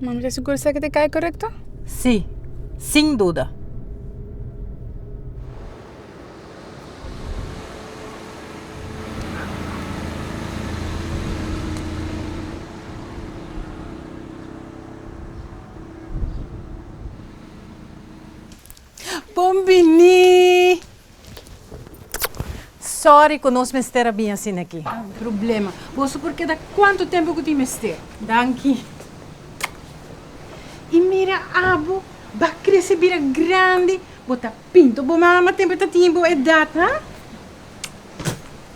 Monica, su kursa ke ta kai korekto? Sí, sin duda. Bon bini! Sorry ku nos mester a bin asina aki. No hay problema. Boso por keda kuantu tempu ku tin mester. Danki. I mira abo, bo a krese bira grandi, bo ta. Pinto bo mama tempo e ta tin bo edad ha.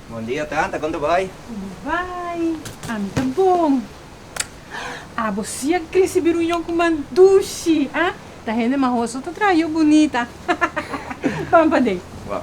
Bon dia tanta con ta bay? Como bay? Ami ta bon. Abo si a crece bir un yonko man dushi ha. Ta hende mahoso ta traha yo bunita Pan paden. Waw.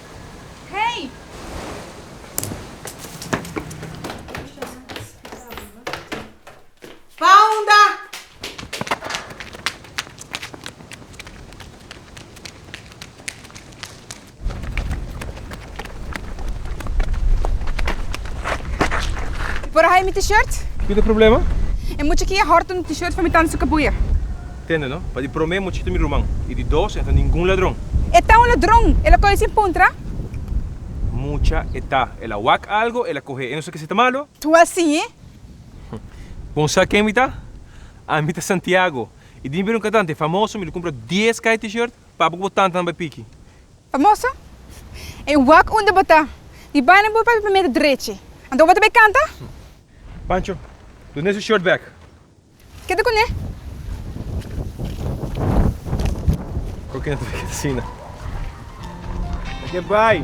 Hey! Pounda! Por a haña mi t-shirt? Kiko ta problema? E mucha kia hòrta un t-shirt for mi tanta su kapuia. Tende no? Pa di promé muchito mi ruman, i di dos e no ta ningun ladron. E ta un ladron, el a kohe sin puntra. Mucha e ta, el a wak algo, el a kohe, e no sa ke si ta malo. Tu a siñe. Bon sa ken mi ta? Ami ta Santiago, i dimpi di un kantante famoso mi lo kumpra dies kai T-shirt, papa ku bo tantanan bai piki. Famoso? E wak unda bo ta, mi bai na bo papia primero drechi, anto bo ta bai kanta? Pancho, done su shirt bek. Keda kuné. Oke no ta bira kesina. Oke bai.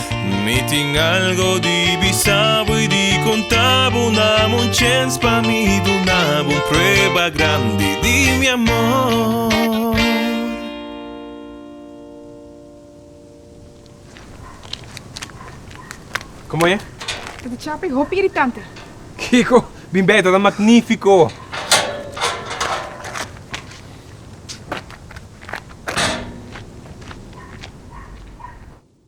Mi tin algo di bisa bo y di conta bo Dame un chance pa mi duna bo un prueba grandi di mi amor Como e? Ta di chapa y hopi iritante. Kiko, bin beta ta magnifico!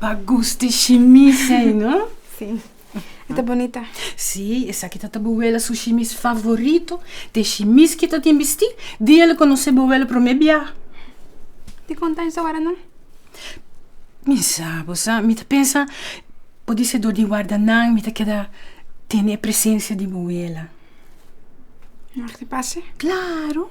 Pa gusti shimis ei no? Sí. E ta bonita. Sí, esaki ta ta bo wela su shimis favorito, te shimis ki ta tin bisti dia el a konosé bo wela promé bia. Dikon ta insa wara nan? Mi sa, bo sa, mi ta pensa por di se dor di warda nan mi ta keda tene e presensia di bo wela. Mag di pase? Claro.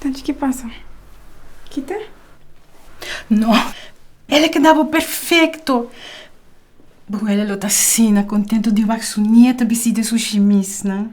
Tanchi ki pasa? Kita? No! El a kedaba perfekto! Buela lo ta asina kontentu di wak su nieta bistí den su shimisnan.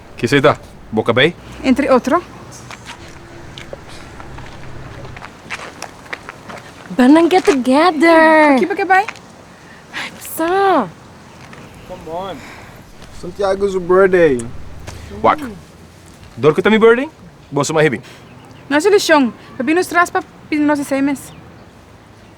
Kisei ta? Boka bay? Entre otro. Bel nan get together. Aki pa ke bay? Ay pasa. Come on. Santiago su birthday. Wak. Dor cu ta mi birthday? Boso ma hebi. No hay solucion. Papi nos tras pa pidi nos esey mes.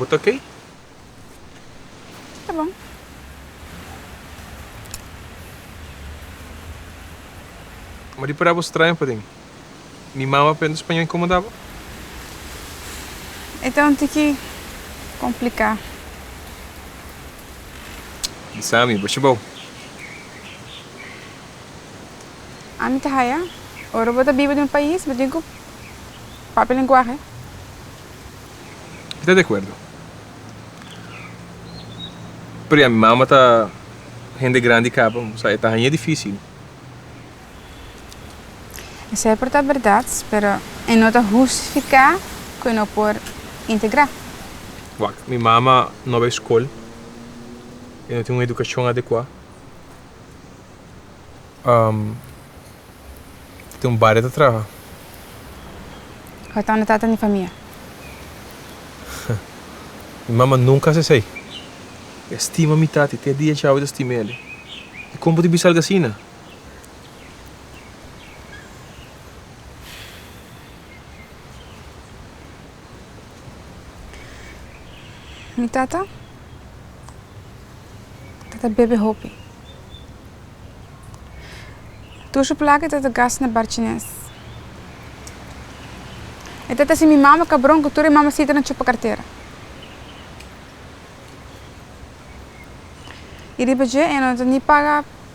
Bo ta ke? Ta bon. Ma di para bo straña paden. Mi mama a prende spañó inkomodá bo? E ta un tiki kompliká. Di sa mi bo ciba bo. Ami ta haya, ora bo ta biba den un pais, bo tin ku papia e lenguahe. Mi ta di akuerdo. Pero ya mi mama ta hende grandi kaba, bo sa, e ta hañ'é difísil. Esei por ta berdad, pero e no ta hustifica cu e no por integra. Wak, mi mama no bai scol, e no tin un educacion adecua. E tin un baria ta traha. Hoton e tata di famia? Mi mama nunca haci esei. E stima mi tati, te dia dj'awe ta stima ele. E con bo tin bisa algo asina? Mi tata tata bebe hopi tur su plaka e tata gast na barchines e tata si mi mama kabron ku tur e mamasita na chupa kartera y riba dje e no ta ni paga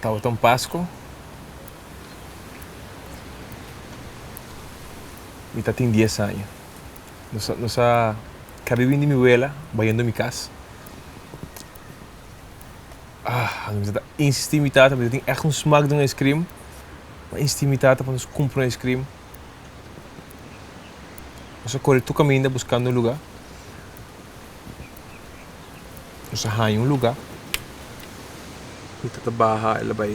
Tabata un Pasko mi ta tin dies aña. Nos a, nos a kabi win di mi wela bayendo mi kas. Ah, anto mi ta insistí mi tata, mi ta tin ègt un smak di un icekrim. Mi ta insistí mi tata pa nos kumpra un icekrim. Nos a kore tur kaminda buskando un lugá. Nos a haña un lugá. Pita ta baha, el a bai,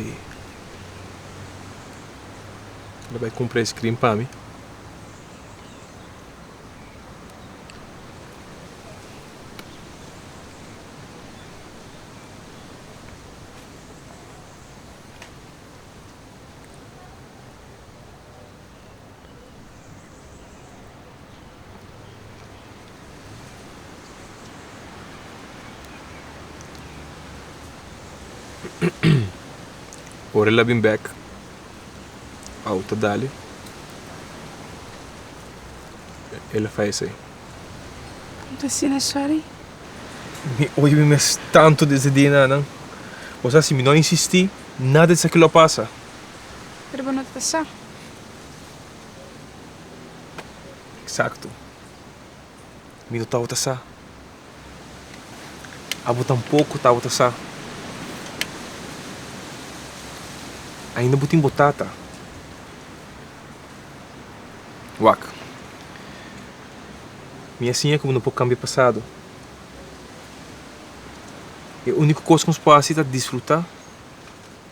el a bai kumpra ice cream pa mi. Ora el a bin bek, auto a dali. El a fai esei. N ta sina sori. Mi oye mi mes tantu desde di e nanan. Bo sa si mi no a insistí, nada di esaki lo a pasa. Pero bo no ta sa. Exacto. Mi no tabata sa. Abo tampoco tabata sa. Ainda bo tin bo tata. Wak. Mi a siña cu bo no por cambia pasado. E unico cos cu nos por haci ta disfruta.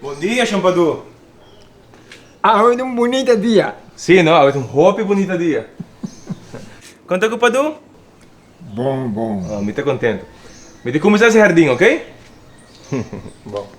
Bon dia Shampadoo! Awe ta un bunita dia! Si no, awe ta un hopi bunita dia! Konta ku Padoo? Bon, bon! Mi ta kontentu. Mi ta kuminsá si hardin, ok? Bon.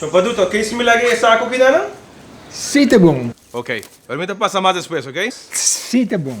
So pa duto ke similar ke esa aku bida nan? Si ta bon. Ok. Pero mi ta pasa mas despues, ok? Si ta bon.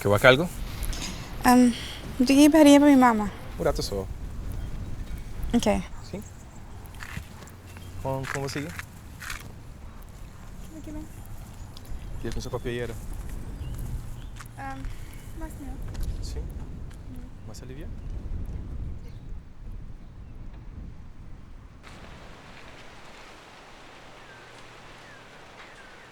Ke wak algu? Am, mi tin ki baria pa mi mama. Un ratu so. Ok. Si? Kon kon bo sigui? Aki bai. Dia ku Sokopia yera? Am, mas mihó. Si? Mas aliviá?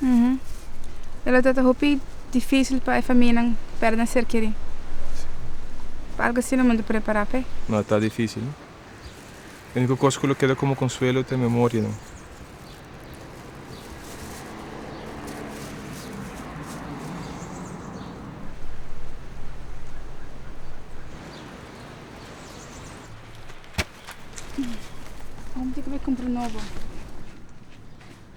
E lo tabata hopi difícil pa e famianan perde nan ser kerí. Pa algu asina lo mester prepará p'e. No ta difícil. E único kos ku lo keda komo konsuelo ta e memorianan.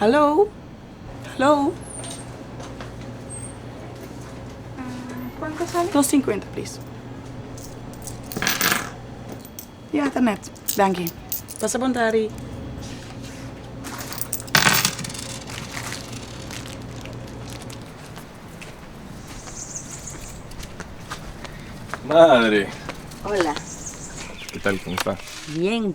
Hallo? Hallo? Cuanto sale? Dos cincuenta please. Ya ta net. Danki. Pasa bon tardi. Madre! Hola. Kital? Como sta? Bien.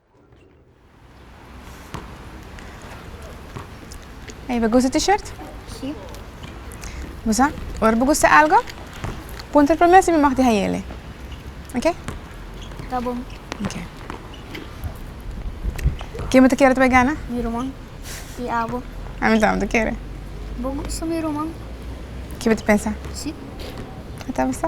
Ey, bo gusta t-shirt? Sí. Bo sa, ora bo gusta algo, puntra promé si mi mag di hayele. Ok? Ta bon. Ok. Ken bo ta kere ta bai gana? Mi ruman. I abo. A mi tambe ta kere. Bo gusta mi ruman? Ki bo ta pensa? Sí. Tabasa.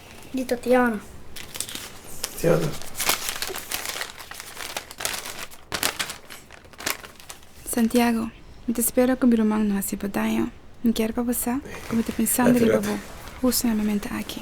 di Tatiana. Tatiana. Santiago, Mi ta spera ku mi ruman no hasi bo daño. Mi kier pa bo sa ku mi ta pensando riba bo hustu na momento aki.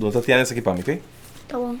Don Tatiana esaki pa mi ok. Ta bon.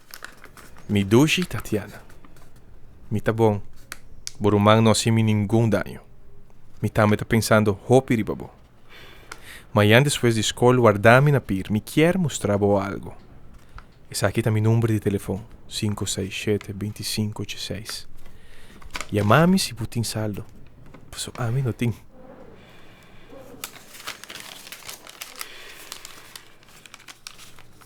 Mi dushi Tatiana, mi ta bon. Bo ruman no haci mi ningun daño. Mi tambe ta pensando hopi riba bo. Mayan despues di scol warda mi na pir, mi kier mustra bo algo. Esaki ta mi number di telefon, sinku seis shete binti sinku ocho seis. Yama mi si bo tin saldo, pasobra ami no tin.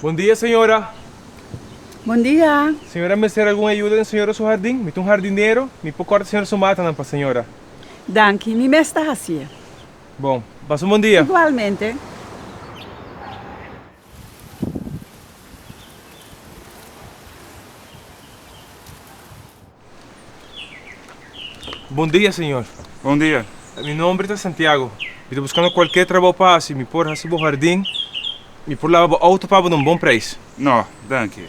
Bon dia señora. Bon dia. Señora mester algun ayuda den señora su hardin? Mi ta un hardinero, mi por corta señora su matanan pa señora. Danki, mi mes ta haci'e. Bon. Pasa un bon dia. Igualmente. Bon dia señor. Bon dia. Mi nomber ta Santiago. Mi ta buscando cualkier trabao pa haci. Mi por haci bo hardin. Mi por laba bo auto pa bo na un bon prijs. No, danki.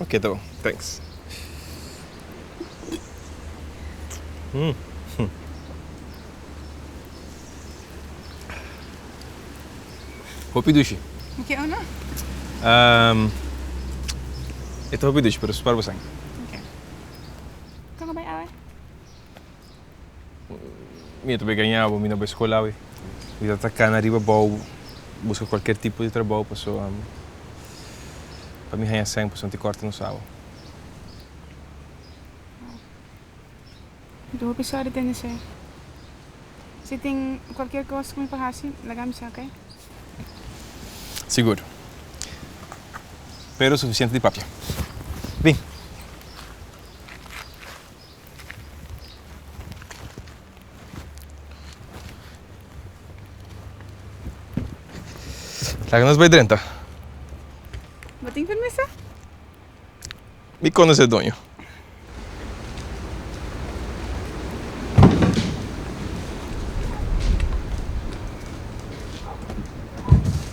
Oke ta bon, thanks. Hopi dushi. Mi ke uno. E ta hopi dushi pero spar bo san. Oke. Kon a bai awe? Mi a ta begaña bo, mi no bo e skol awe. Mi ta takana riba bou buska kualker tipo di trabou paso pa mi haña sèn paso nan tin kòrta nos awa. Mi ta hopi sòri den esei. Si tin kualker kos ku mi por hasi, laga mi sa, oke? Sigur. Pero sufisiente di papia. Bin! Laga nos bai drenta. Bo tin permiso? Mi conoce e doño.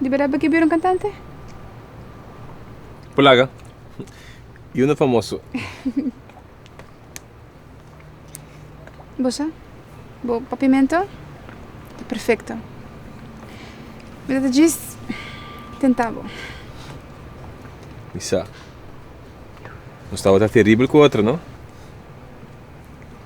Di berdad bo ke bira un kantante? Por laga. Yo no famoso. Bo sa? Bo papimento ta perfecto. Mi ta just tenta bo. Mi sa. Nos tabata terribel cu otro, no?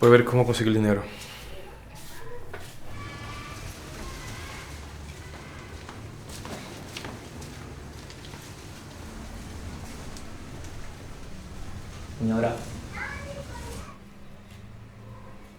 Bo a ber como consegui el dinero. Señora.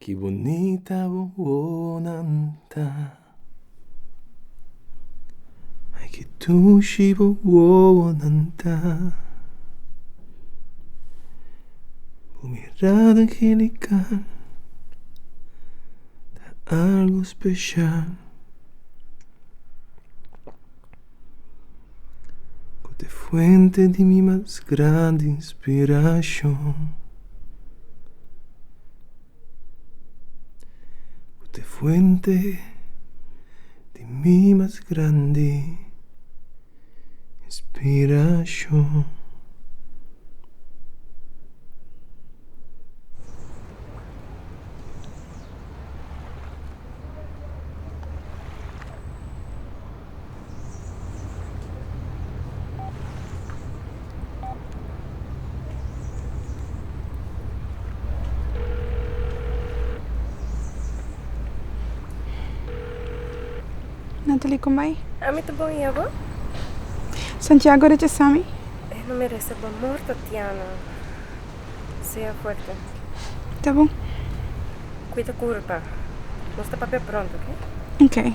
Ki bunita bo wonan ta Ay ki tushi bo wonan ta Bo mirada angelical Ta algo special Cu ta e fuente di mi mas grandi inspiracion Cu ta e fuente di mi mas grandi inspiracion Natalie con mij. Ami ta bon y abo? Santiago rechaza mi. E no merece bo amor Tatiana. Sea fuerte. Ta bon. Cuida curpa. Nos ta papia pronto, ok? Ok.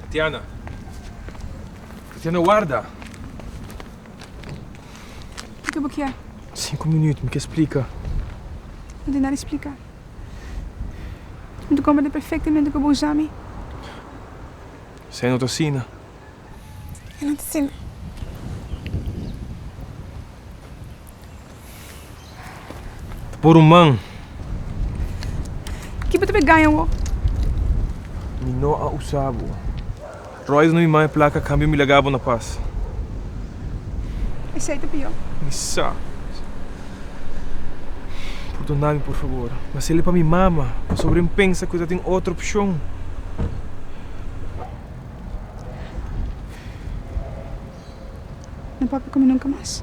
Tatiana Tatiana warda. Kiko bo kier? Sinku minüt, mi ke splika. No tin nada di splika. Mi ta komprende perfektemente ku bo usa mi. Esei no ta asina. E no ta asina. Por un man. Ki bo ta bai gaña wou? Mi no a usa bo. Royce no mi man e plaka cambio mi laga bo na pas. Esei ta pior. Mi sa. Perdona mi por favor. Mas el e pa mi mama pasobra en pensa cu e ta tin otro opcion. No papia cu mi nunca mas.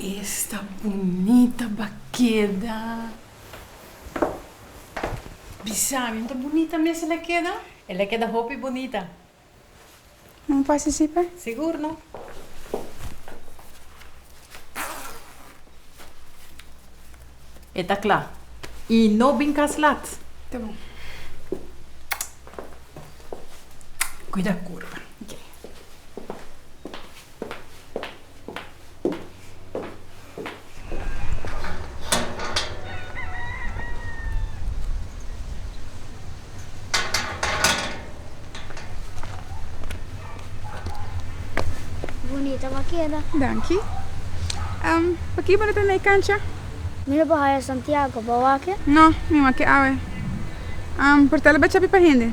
Esta bunita ba keda. Bisa mi, ta bunita mes el a keda? El a keda hopi bunita. Nan participe? Sigur no. E ta cla. Y no bin cas lat. Ta bon. Cuida curva. Ok. Bunita bo a keda. Danki. P'aki bo no ta na e kancha? Mi no por haya Santiago, bo a wak e? No, mi wak e awe. Por ta la bacha api pa hende?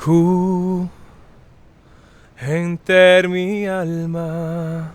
Ku henter mi alma.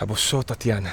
A bo so Tatiana.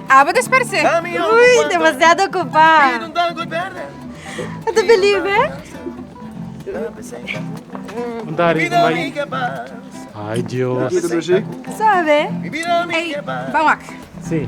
Abo ta sparse. Ui, demasiado ocupá. Ata feliz be? Dari, kom bai. Ai, Dios. Sabe? Ei, ban wak. Si.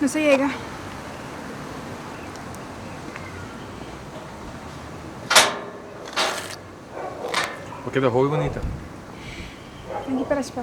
Nos a yega. Bo keda hopi bonita. Aki pa raspá.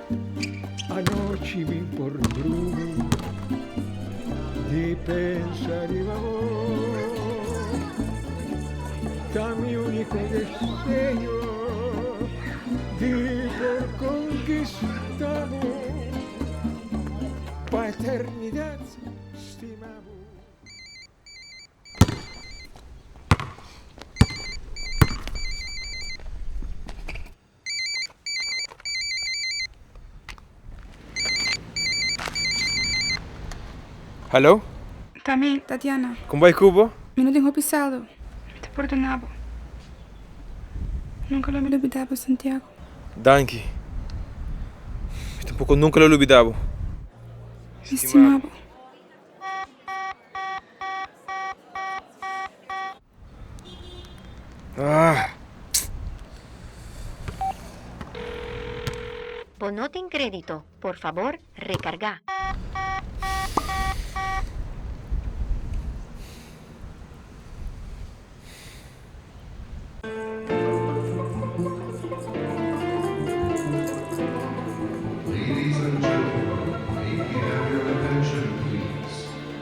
Anochi mi por drumi di pensa riba bo Ta mi unico deseo di por conquista bo Pa eternidad stima bo Hallo? Ta mi, Tatiana. Con bay cu bo? Mi no tin hopi saldo. Mi ta perdona bo. Nunca lo mi lubida bo, Santiago. Danki. Mi tampoco nunca lo lubida bo. Mi stima bo. Bo no tin kredito, por fabor rekargá.